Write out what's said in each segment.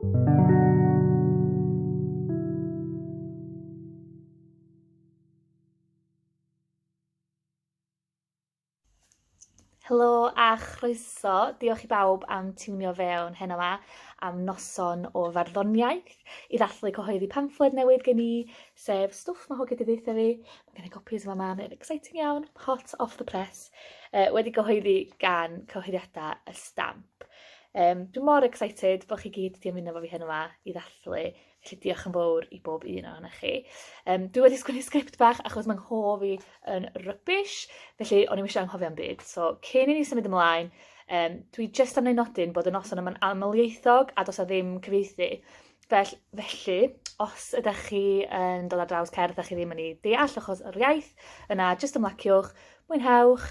Helo a chroeso. Diolch i bawb am tiwnio fewn heno yma am noson o farddoniaeth i ddathlu cyhoeddi pamffled newydd gen i, sef Stwff Mae Hogia 'di Deutha Fi. Mae gen i gopis yma ma, mae'n exciting iawn, hot off the press, uh, wedi cyhoeddi gan cyhoeddiadau y stamp. Um, dwi'n mor excited bod chi gyd wedi ymuno fo fi heno yma i ddathlu. Felly diolch yn fawr i bob un o'n chi. Um, dwi wedi sgwini sgript bach achos mae'n nghof i yn rybys, felly o'n i'n eisiau anghofio am byd. So, cyn i ni symud ymlaen, um, dwi jyst am wneud nodyn bod y noson yma'n amlieithog a dos a ddim cyfeithi. Fel, felly, os ydych chi yn dod ar draws cerdd a chi ddim yn ei deall achos yr iaith, yna jyst ymlaciwch, mwynhewch,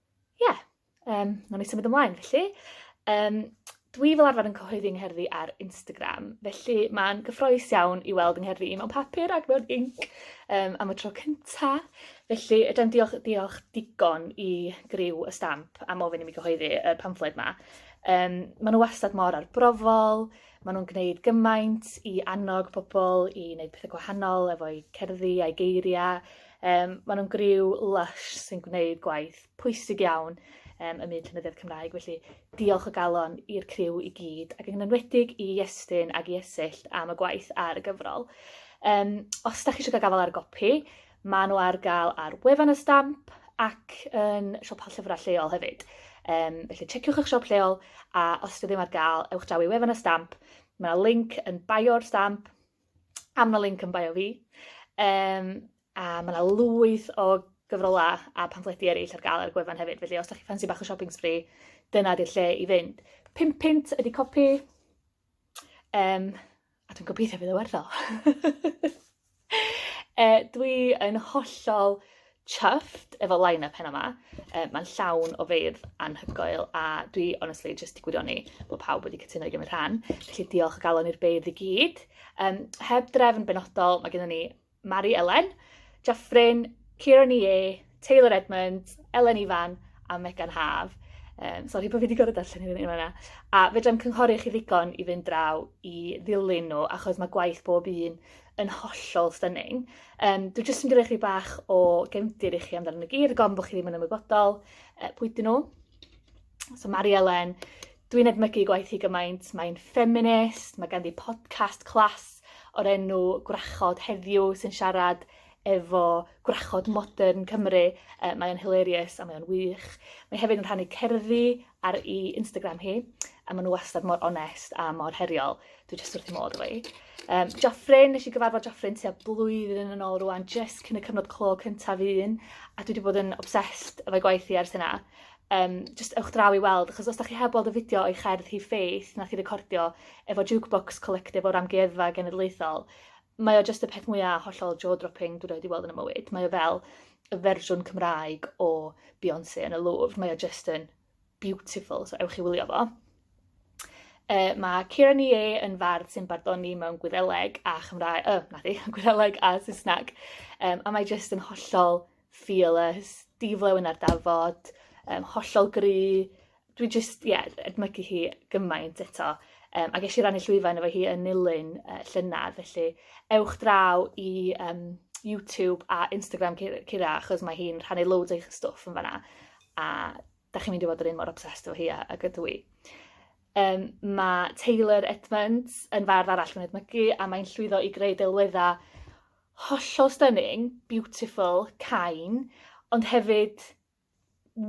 Ie, yeah, um, nawn ni symud ymlaen felly. Um, dwi fel arfer yn cyhoeddi yng ngherddi ar Instagram, felly mae'n gyffroes iawn i weld yng ngherddi i mewn papur ac mewn inc um, am y tro cynta. Felly, ydym diolch, diolch digon i griw y stamp am ofyn i mi gyhoeddi y pamffled yma. Um, maen nhw wastad mor arbrofol, maen nhw'n gwneud gymaint i annog pobl i wneud pethau gwahanol efo'i cerddi a'i geiriau, Um, maen nhw'n griw lush sy'n gwneud gwaith pwysig iawn um, ym myd llenyddiaeth Cymraeg, felly diolch o galon i'r criw i gyd, ac yn enwedig i Iestyn ac i Esyllt am y gwaith ar y gyfrol. Um, os da chi eisiau cael gafael ar y gopi, maen nhw ar gael ar wefan y stamp ac yn siopa llyfrau lleol hefyd. Um, felly checiwch eich siop lleol a os ydych ddim ar gael, ewch draw i wefan y stamp. Mae yna link yn bio'r stamp am y link yn bio fi. Um, a mae yna lwyth o gyfrolau a pamffledi eraill ar gael ar gwefan hefyd. Felly os da chi ffansi bach o shopping spree, dyna di'r lle i fynd. Pimp pint ydy copi. Um, a dwi'n gobeithio bydd y werth o. e, dwi yn hollol chuffed efo line-up heno ma. Uh, Mae'n llawn o feirdd anhygoel a dwi honestly jyst di gwirioni bod pawb wedi cytuno i gymryd rhan. Felly diolch o galon i'r beirdd i gyd. Um, heb drefn benodol, mae gennym ni Mari Elen, Jaffrin, Kieran Ie, Taylor Edmund, Elen Ifan a Megan Haf. Um, sorry bod fi wedi gorfod darllen hyn yn yna. A fedrai'm cynghori chi ddigon i fynd draw i ddilyn nhw, achos mae gwaith bob un yn hollol stunning. Um, dwi jyst yn gyda chi bach o gefndir i chi amdano nhw gyd, gofn bod chi ddim yn ymwybodol uh, pwy dyn nhw. So Mari Elen, dwi'n edmygu gwaith hi gymaint, mae'n ffeminist, mae ganddi podcast clas o'r enw Gwrachod heddiw sy'n siarad efo gwrachod modern Cymru. Uh, mae o'n hilarious a mae o'n wych. Mae hefyd yn rhannu cerddi ar ei Instagram hi a maen nhw wastad mor onest a mor heriol. Dwi jyst wrth modd efo hi. Um, Joffrin, nes i gyfarfod Joffrin tua blwyddyn yn ôl rwan, jyst cyn y cyfnod clo cyntaf un, a dwi wedi bod yn obsessed efo'i gwaith hi ers yna. Um, just ewch draw i weld, achos os da chi heb weld y fideo o'i cherdd hi Faith nath i recordio efo Jukebox Collective o'r Amgueddfa Genedlaethol, mae o jyst y peth mwyaf hollol jaw-dropping dwi wedi weld yn y mywyd. Mae o fel y fersiwn Cymraeg o Beyoncé yn y Louvre. Mae o jyst yn beautiful, so ewch i wylio fo. E, mae Kira Nie yn fardd sy'n barddoni mewn gwyddeleg a Chymraeg, oh, na di, gwyddeleg a Saesneg. Um, a mae jyst yn hollol fearless, diflew yn ardafod, um, hollol gry. Dwi jyst, ie, yeah, edmygu hi gymaint eto. Um, a ges i rannu llwyfan efo hi yn nilyn uh, llynedd, felly ewch draw i um, YouTube a Instagram Kira, achos mae hi'n rhannu loads eich stwff yn fanna. a da chi'n mynd i fod yr un mor obsessed efo hi a, ag ydw i. Um, mae Taylor Edmonds yn fardd arall yn edmygu a mae'n llwyddo i greu delweddau hollol stunning, beautiful, cain, ond hefyd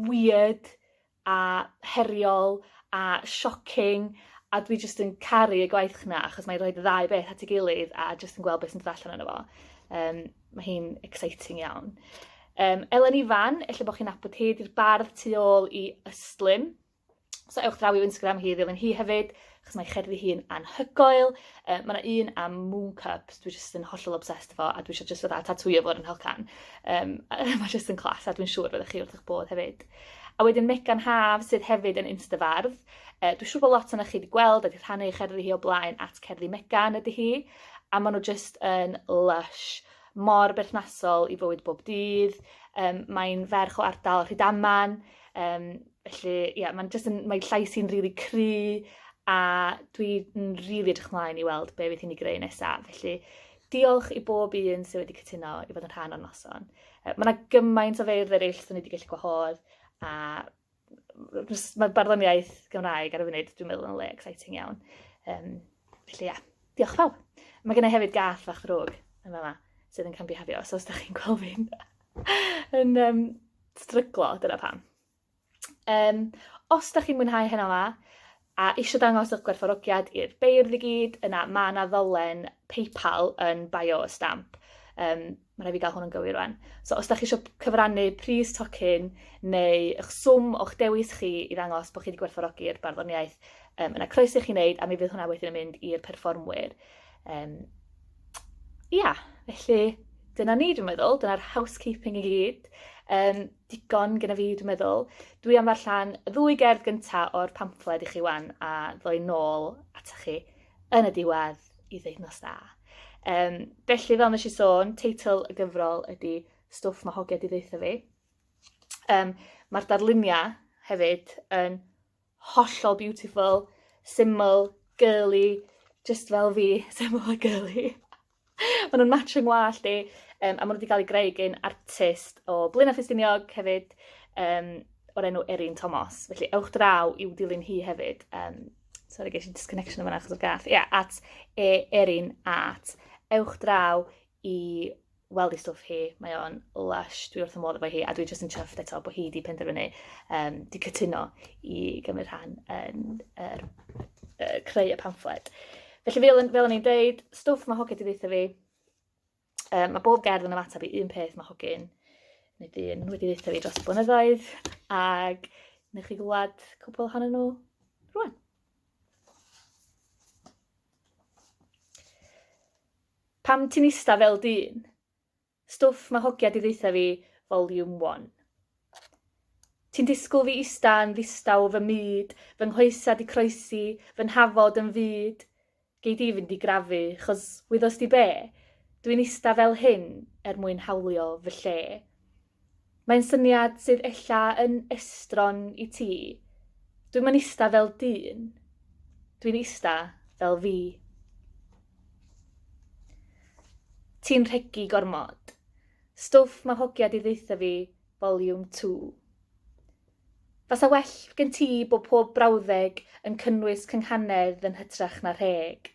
weird a heriol a shocking a dwi jyst yn caru y gwaith chna achos mae'n rhoi ddau beth at ei gilydd a jyst yn gweld beth sy'n dod allan yno fo. Um, Mae hi'n exciting iawn. Um, Elen Ifan, efallai bod chi'n abod hi, di'r bardd tu ôl i Ystlum. So ewch draw i'w Instagram hi, ddilyn hi hefyd, achos mae cherddi hi'n anhygoel. Uh, mae yna un am Moon Cups, dwi jyst yn hollol obsessed efo, a dwi eisiau jyst fydda tatwio fo'r yn helcan. Um, mae jyst yn clas, a dwi'n siŵr fydda chi wrth eich bod hefyd. A wedyn Megan Haf, sydd hefyd yn instafardd. Uh, dwi'n siŵr bod lot o'n chi wedi gweld a wedi rhannu eich cerddi hi o blaen at cerddi Megan ydy hi. a maen nhw jyst yn lush, mor berthnasol i fywyd bob dydd, um, mae'n ferch o ardal Rhydaman, um, felly ie, yeah, mae'n jyst yn, mae llais i'n rili really cry, a dwi'n rili really edrych ymlaen i weld be fydd hi'n ei greu nesaf. Felly, diolch i bob un sydd wedi cytuno i fod yn rhan o'r noson. Mae yna gymaint o feirdd eraill sydd wedi gallu gwahodd, a mae barddoniaeth Gymraeg ar y funud, dwi'n meddwl, yn le exciting iawn. Um, felly, ia, diolch pawb. Mae gen i hefyd gath fach ddrwg yn fama sydd yn cambihafio, so os da chi'n gweld fi'n yn um, stryglo, dyna pam. Um, os da chi'n mwynhau heno fa, A isio dangos eich gwerthfawrogiad i'r beirdd i gyd, yna mae yna ddolen PayPal yn bio y stamp. Um, mae rhaid fi gael hwn yn gywir rwan. So os da chi eisiau cyfrannu pris tocyn neu eich swm o'ch dewis chi i ddangos bod chi wedi gwerthfawrogi'r barddoniaeth, um, yna croeso i chi wneud a mi fydd hwnna wedyn yn mynd i'r perfformwyr. Um, ia, felly dyna ni dwi'n meddwl, dyna'r housekeeping i gyd. Um, digon gyda fi, dwi'n meddwl. Dwi am ddarllen y ddwy gerdd gynta o'r pamffled i chi wan a ddoi nôl ata chi yn y diwedd i ddeud nos da. Um, felly, fel nes i sôn, teitl y gyfrol ydy Stwff mae hogia di ddeitha fi. Um, Mae'r darluniau hefyd yn hollol beautiful, syml, girly, just fel fi, syml a girly. Ma' nw'n match 'yn ngwallt i yym a ma' nw 'di ga'l 'u greu gin artist o Blaena Ffestiniog hefyd yym o'r enw Erin Tomos. Felly ewch draw i'w dilyn hi hefyd yym sori gesh i disconnection yn fan 'na achos o'r gath. Ia at e Erin Art. Ewch draw i weld ei stwff hi mae o'n lush dwi wrth 'y modd efo hi a dwi jyst yn chuffed eto bo' hi 'di penderfynu yym 'di cytuno i gymryd rhan yn yr yy creu y pamffled. Felly fel, fel o'n i'n deud, stwff mae Hogi wedi ddeitha fi. Um, mae bob gerdd yn ymateb i un peth mae Hogi'n neu dyn wedi ddeitha fi dros y blynyddoedd ac nech chi glwad cwpl hanner nhw rwan. Pam ti'n ista fel dyn? Stwff mae hogia di ddeutha fi volume one. Ti'n disgwl fi ista yn ddistaw fy myd, fy nghoesa di croesi, fy nhafod yn fud? Gei di fynd i grafu, chos wyddos di be? Dwi'n ista fel hyn er mwyn hawlio fy lle. Mae'n syniad sydd ella yn estron i ti. Dwi'm yn ista fel dyn. Dwi'n ista fel fi. Ti'n rhegi gormod. Stwff mae hogia di ddeitha fi, volume 2. Fasa well gen ti bod pob brawddeg yn cynnwys cynghanedd yn hytrach na rheg.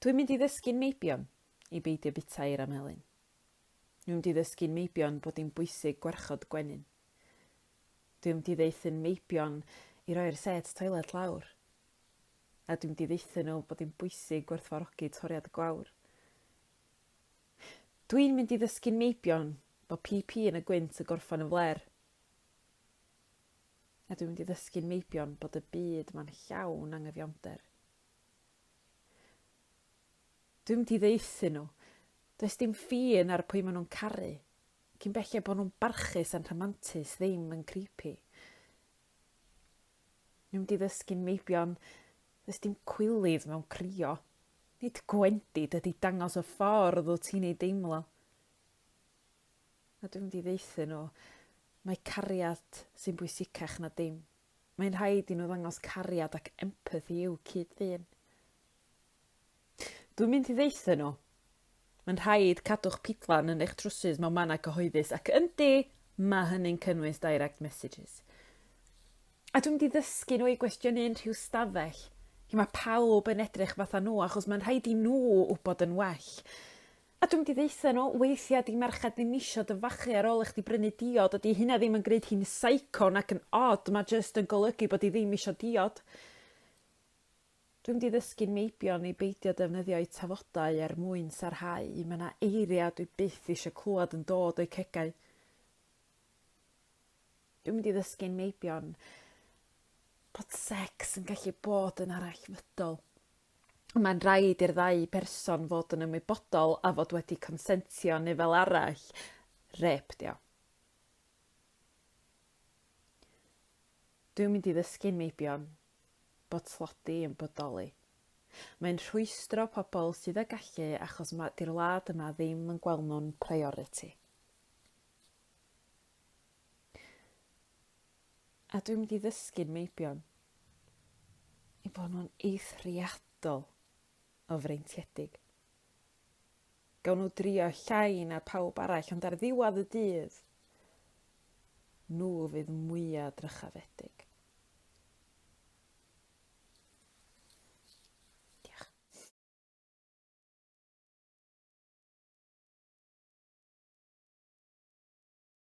Dwi'n mynd i ddysgu'n meibion i beidio bita i'r amhelyn. Dwi'n mynd i ddysgu'n meibion bod hi'n bwysig gwarchod gwenyn. Dwi'n mynd i ddeithu'n meibion i roi'r set toilet lawr. A dwi'n mynd i ddeithu nhw bod hi'n bwysig gwerthfarogi toriad y gwawr. Dwi'n mynd i ddysgu'n meibion bod PP yn y gwynt y gorffan yn fler. A dwi'n mynd i ddysgu'n meibion bod y byd ma'n llawn angyfiawnder. Dwi'n mynd i ddeithu nhw. Does dim ffin ar pwy maen nhw'n caru. Cyn belled bod nhw'n barchus a'n rhamantus ddim yn creepy. Dwi'n mynd i ddysgu'n meibion Does dim cwilydd mewn crio. Nid gwendid ydy dangos y ffordd wyt ti'n ei deimlo. A dwi'n mynd i ddaethu nhw. Mae cariad sy'n bwysicach na dim. Mae'n rhaid i nhw ddangos cariad ac empathi i'w cyd-ddyn. Dwi'n mynd i ddaethu nhw. Mae'n rhaid cadw'ch pidlan yn eich trwsus mewn mannau cyhoeddus ac yndi, mae hynny'n cynnwys direct messages. A dwi'n mynd i ddysgu nhw i gwestiynu unrhyw stafell lle mae pawb yn edrych fatha nhw achos mae'n rhaid i nhw wybod yn well. A dwi mynd i ddeutha nhw, weithia di merched ddim isio dy fachu ar ôl i chdi brynu diod a di hynna ddim yn gneud hi'n saico nac yn od ma jyst yn golygu bod hi ddim isio diod. Dwi mynd i ddysgu'n meibion i beidio defnyddio'u tafodau er mwyn sarhau, ma na eiria dwi byth isio clwad yn dod o'u cegau. Dwi mynd i ddysgu'n meibion bod sex yn gallu bod yn arallfydol. mae'n rhaid i'r ddau berson fod yn ymwybodol a fod wedi consentio neu fel arall, rep dio. Dwi'n mynd i ddysgu meibion bod tlodi yn bodoli. Mae'n rhwystro pobl sydd â gallu achos mae di'r wlad yma ddim yn gweld nhw'n priority. A dwi'n mynd i ddysgu'n meibion i bod nhw'n eithriadol o freintiedig. Gawn nhw drio llai na pawb arall, ond ar ddiwedd y dydd, nhw fydd mwyaf drychafedig.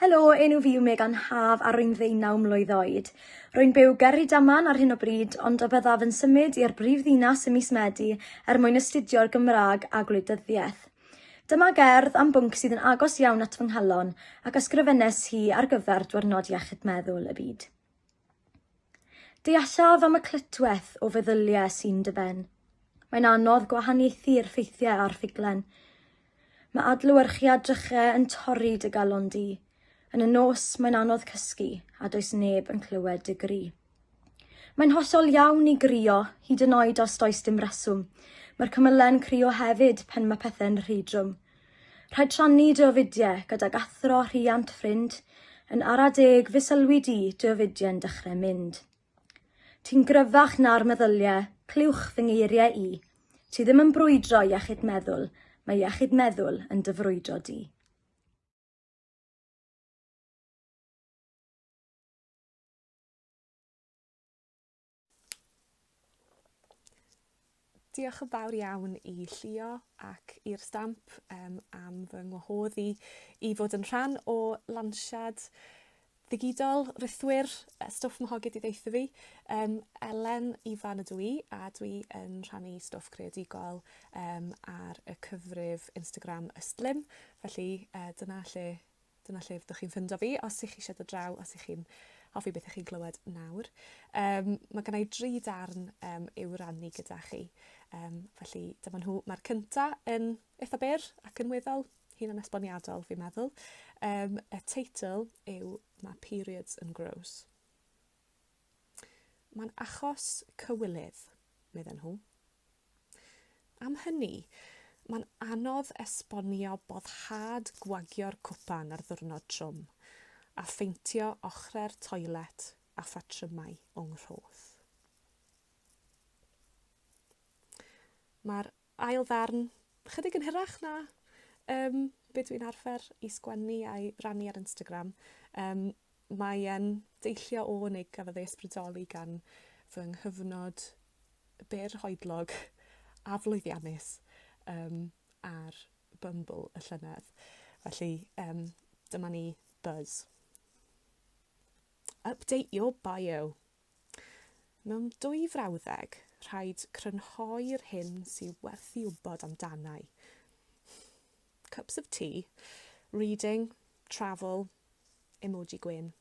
Helo, enw fi yw Megan Haf a rwy'n ddeunaw mlwydd oed. Rwy'n byw ger Rhydaman ar hyn o bryd, ond y byddaf yn symud i'r brifddinas ym mis Medi er mwyn astudio'r Gymraeg a Gwleidyddiaeth. Dyma gerdd am bwnc sydd yn agos iawn at fy nghalon ac ysgrifennes hi ar gyfer Diwrnod Iechyd Meddwl y Byd. Deallaf am y clytwaith o feddyliau sy'n dy ben. Mae'n anodd gwahaniaethu'r ffeithiau a'r ffuglen. Mae adlewyrchiad drychau yn torri dy galon di. Yn y nos, mae'n anodd cysgu, a does neb yn clywed dy gri. Mae'n hollol iawn i grio, hyd yn oed os does dim reswm. Mae'r cymyle'n crio hefyd pan mae pethau'n rhy drwm. Rhaid rhannu dy ofidiau gydag athro, rhiant, ffrind. Yn ara deg, fe sylwi di dy ofidiau'n dechrau mynd. Ti'n gryfach na'r meddyliau, clywch fy ngeiriau i. Ti ddim yn brwydro iechyd meddwl, mae iechyd meddwl yn dy frwydro di. Diolch yn fawr iawn i Llio ac i'r stamp um, am fy ngwahodd i i fod yn rhan o lansiad ddigidol rithwyr Stwff Mahogyd i ddeitha fi. Um, Elen Ifan ydw i a dwi yn rhannu stwff creadigol um, ar y cyfrif Instagram Ystlum. Felly uh, dyna lle Dyna lle fyddwch chi'n ffindo fi os ych chi eisiau dod draw, os ych chi'n hoffi beth ych chi'n glywed nawr. Um, mae gen i dri darn um, i'w rannu gyda chi. Um, felly dyma nhw. Mae'r cynta yn eitha byr ac yn weddol hun yn esboniadol, fi'n meddwl. Um, y teitl yw Mae Periods yn Gross. Mae'n achos cywilydd, medden nhw. Am hynny, mae'n anodd esbonio boddhad gwagio'r cwpan ar ddiwrnod trwm, a pheintio ochrau'r toilet a phatrymau o nghroth. Mae'r ail ddarn chydig yn hirach na um, be dwi'n arfer i sgwennu a'i rannu ar Instagram. Um, Mae e'n deillio o, neu gafodd ei ysbrydoli gan fy nghyfnod byr hoedlog a flwyddiannus um, ar Bumble y llynedd. Felly, um, dyma ni buzz. Update your bio. Mewn dwy frawddeg, rhaid crynhoi'r hyn sy'n werth i wybod amdanau. Cups of tea, reading, travel, Emoji gwên.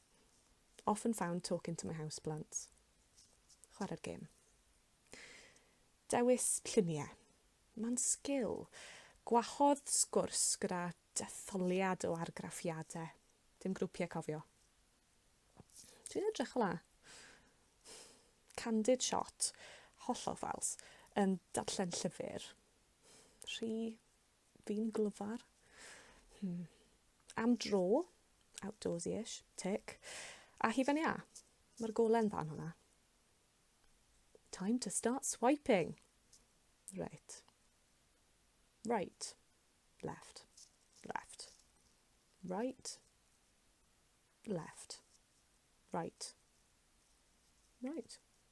Often found talking to my house plants. Chwarae'r gêm. Dewis lluniau. Mae'n sgil. Gwahodd sgwrs gyda detholiad o argraffiadau. Dim grwpiau cofio. Dwi'n edrych o la. Candid shot, hollol ffals, yn darllen llyfr. Rhy Fi'n glyfar. Hmm. Am dro. Outdoorsy-ish. Tick. A hufen iâ. Mae'r gole'n dda yn hwnna. Time to start swiping. Right. Right. Left. Left. Right. Left. Right. Right.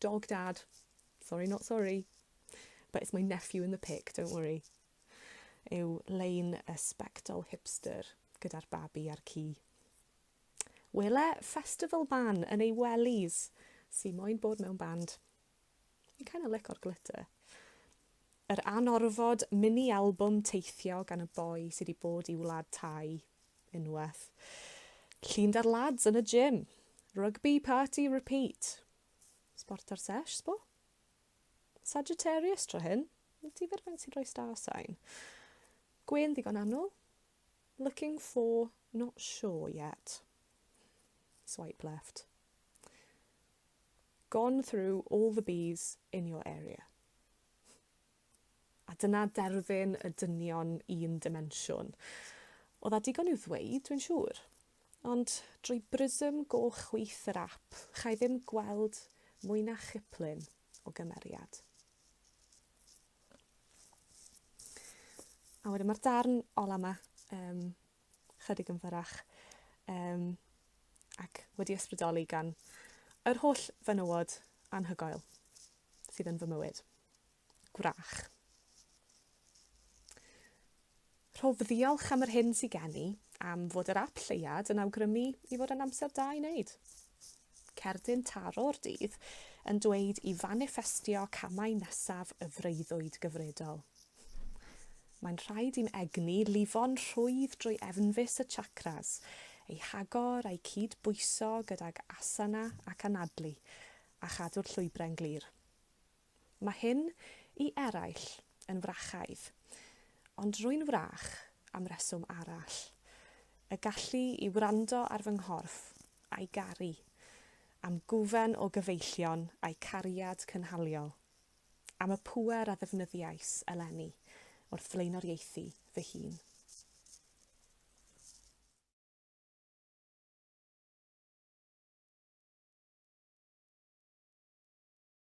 Dog dad. Sorry not sorry. But it's my nephew in the pic, don't worry. Yw lein y spectol hipster gyda'r babi a'r ci. Wele festival ban yn ei wellies sy'n moyn bod mewn band. Fi'n kind of lic o'r glitter. Yr anorfod mini albwm teithio gan y boi sy di bod i wlad Thai unwaith. Llun da'r lads yn y gym. Rugby party repeat. Sport ar sesh, sbo? Sagittarius tro hyn. Wyt ti fer faint sy'n rhoi star sign? Gwên ddigon annwl. Looking for not sure yet. Swipe left. Gone through all the bees in your area. A dyna derfyn y dynion un dimensiwn. Oedd a digon i'w ddweud, dwi'n siŵr. Ond drwy brism goch chwith yr ap, chai ddim gweld mwy na chiplun o gymeriad. A wedyn mae'r darn ola yma, um, chydig yn fyrrach um, ac wedi ysbrydoli gan yr holl fenywod anhygoel sydd yn fy mywyd. Gwrach. Rhof ddiolch am yr hyn sy'n gen i am fod yr app lleiad yn awgrymu i fod yn amser da i wneud. Cerdyn Taro'r Dydd yn dweud i faniffestio camau nesaf y freuddwyd gyfredol. Mae'n rhaid i'm egni lifo'n rhwydd drwy efnfus y chakras, eu hagor a'u cyd-bwyso gydag asana ac anadlu, a chadw'r llwybrau'n glir. Mae hyn, i eraill, yn frachaidd, ond rwy'n frach am reswm arall, y gallu i wrando ar fy nghorff, a'i garu, am gwfen o gyfeillion a'i cariad cynhaliol, am y pŵer a ddefnyddiais eleni wrth flaenoriaethu fy hun.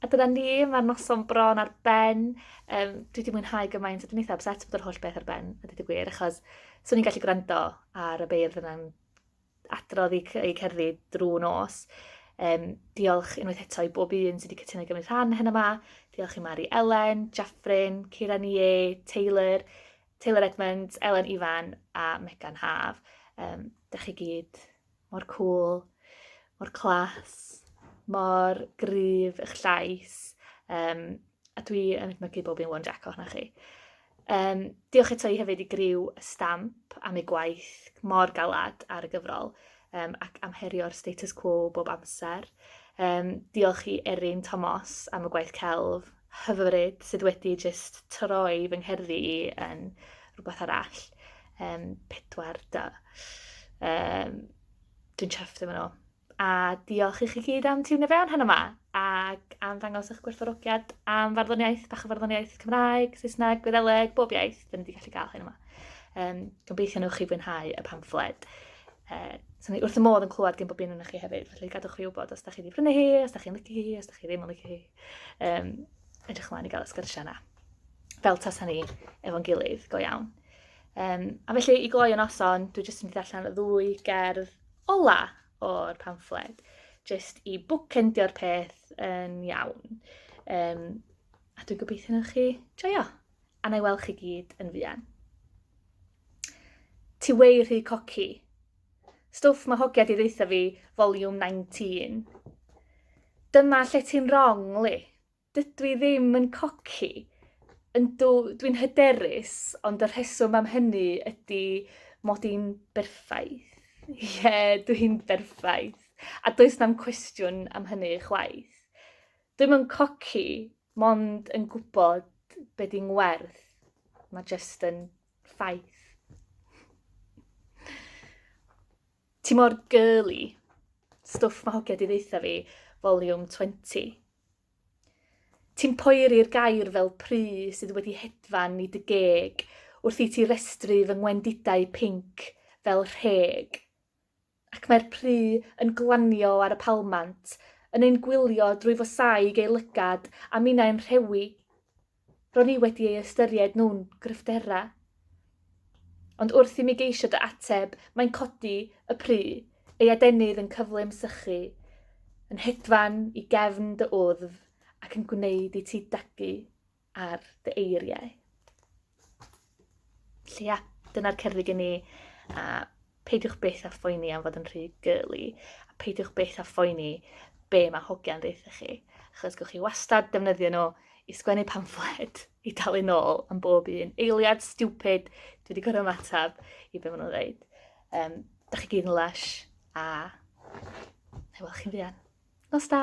A dyna ni, mae'r noson bron ar ben. Um, dwi wedi mwynhau gymaint, a dwi'n eitha upset bod yr holl beth ar ben, a dwi gwir, achos swn i'n gallu gwrando ar y beirdd yna'n adrodd i, i cerddi drwy nos. Um, diolch unwaith eto i bob un sydd wedi cytuno i gymryd rhan hyn yma. Diolch i Mari Elen, Jaffrin, Ciran Ie, Taylor, Taylor Edmonds, Elen Ifan a Megan Haf. Um, da chi gyd mor cŵl, mor clas, mor gryf eich llais. Um, a dwi yn edmygu bob un one jack o'na chi. Um, diolch eto i hefyd i griw y stamp am ei gwaith mor galad ar y gyfrol um, ac am herio'r status quo bob amser. Um, diolch i Erin Tomos am y gwaith celf hyfryd sydd wedi jyst troi fy ngherddi i yn rhywbeth arall. Um, pedwar da. Um, dwi'n chyfft efo nhw. A diolch i chi gyd am tiwne fewn heno yma ac am ddangos eich gwerthorogiad am farddoniaeth, bach o farddoniaeth Cymraeg, Saesneg, Gwyddeleg, bob iaith, dyn ni wedi gallu cael hyn yma. Um, gobeithio nhw'ch chi fwynhau y pamffled. Uh, so ni wrth y modd yn clywed gen bob un o'n chi hefyd, felly gadwch chi wybod os da chi wedi prynu hi, os da chi'n lygu hi, os da chi ddim yn lygu hi. Um, edrych ymlaen i gael y sgyrsiau yna. Fel tasa ni efo'n gilydd, go iawn. Um, a felly i gloi yn noson, dwi jyst yn mynd i allan y ddwy gerdd ola o'r pamffled, jyst i bwcendio'r peth yn iawn. Um, a dwi'n gobeithio na chi joio, a na i weld chi gyd yn fuan. Ti wei rhy coci, Stwff ma hogia di ddeutha fi volume 19. Dyma lle ti'n wrong, Li. Dydw i ddim yn coci. Yndw, dwi'n hyderus, ond y rheswm am hynny ydy mod i'n berffaith. Ie, yeah, dwi'n berffaith. A does na'm cwestiwn am hynny chwaith. Dwi'm yn coci, mond yn gwybod be' 'di ngwerth. Ma' jyst yn Ffaith. Ti mor girly. Stwff mae hogia di ddeitha fi, volume 20. Ti'n poeri'r gair fel pry sydd wedi hedfan i dy geg wrth i ti restru fy ngwendidau pink fel rheg. ac mae'r pry yn glanio ar y palmant, yn ein gwylio drwy fosaig ei lygad a minnau'n rhewi. Ro'n i wedi ei ystyried nhw'n gryfderau. Ond wrth i mi geisio dy ateb, mae'n codi y pry, ei adenydd yn cyflym sychu, yn hedfan i gefn dy wddf ac yn gwneud i ti dagu. ar dy eiriau. Lle ia, dyna'r cerdded gen i, a peidiwch byth a phoeni am fod yn rhy gyli, a peidiwch byth a phoeni be mae hogiau'n ddeitha chi, achos gwch chi wastad defnyddio nhw i sgwennu pamffled, i dalu nôl am bob un eiliad stupid dwi wedi gorau ymateb i be maen nhw'n dweud. Um, da chi gyd yn lush, a na i weld chi'n fuan. Nos da!